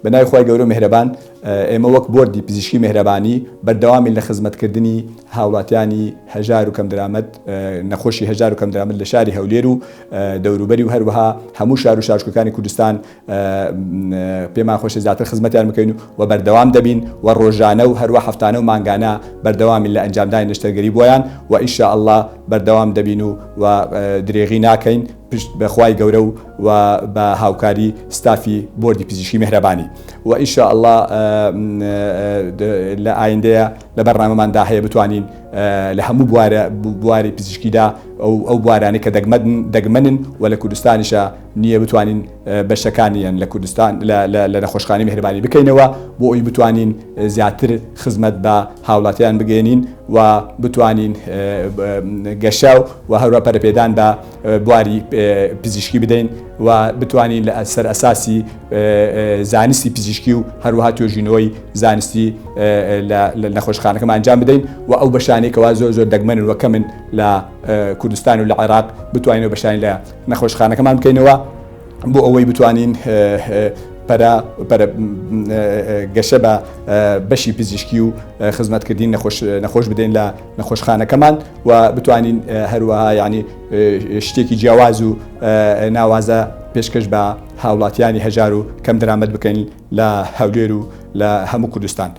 بە ناوی خوای گەورە و میهرەبان ئێمە وەک بۆردی پزیشکی میهرەبانی بەردەوامین لە خزمەت کردنی هاوڵاتیانی هەژار و کەم درامەت نەخۆشی هەژار و کەم درامەت لە شاری هەولێر و دەوروبەری و هەروەها هەموو شار و شارچکەکانی کوردستان پێمان خۆشی زیاتر خزمەتیان بکەین و بەردەوام دەبین و ڕۆژانە و هەروە هەفتانە و مانگانە بەردەوامی لە ئەنجامدانی نەشتەرگەری بۆیان و ئیشە ئەللا بەردەوام دەبین و و درێغی ناکەین پشت بە خوای گەورە و وە بە هاوکاری ستافی بۆردی پزیشکی مێهرەبانی وە ان شاء اللە لە ئایندەیە لە بەرنامەمان دا هەیە بتوانین لە هەموو بوارە بواری پزیشکی دا ئەو ئەو بوارانەی کە دەگمەن دەگمەنن و لە کوردستانیشە نییە بتوانین بەشەکانیان لە کوردستان لە نەخۆشخانی مێهرەبانی بکەینەوە بۆ ئەوی بتوانین زیاتر خزمەت بە هاوڵاتیان بگەێنین و بتوانین گەشە و هەروە پەرپێدان بە بواری پزیشکی بدەین و بتوانین لە سەر ئەساسی زانستی پزیشکی و هەروەها توێژینەوەی زانستی لە نەخۆشخانەکەمان ئەنجام بدەین و ئەو بەشانێکەوە زۆر زۆر دەگمەن وەکە من لە کوردستان و لە عێراق بتوانین بەشانی لە نەخۆشخانەکەمان بکەینەوە بۆ ئەوەی بتوانین پەرە گەشە بە بەشی پزیشکی و خزمەتکردین نەخۆش بدەین لە نەخۆشخانەکەمان و بتوانین هەروەها یانی شتێکی جیاواز و ناوازە پێشکەش بە هاوڵاتیانی هەژار و کەم درامەت بکەین لە هەولێر و لە هەموو کوردستان.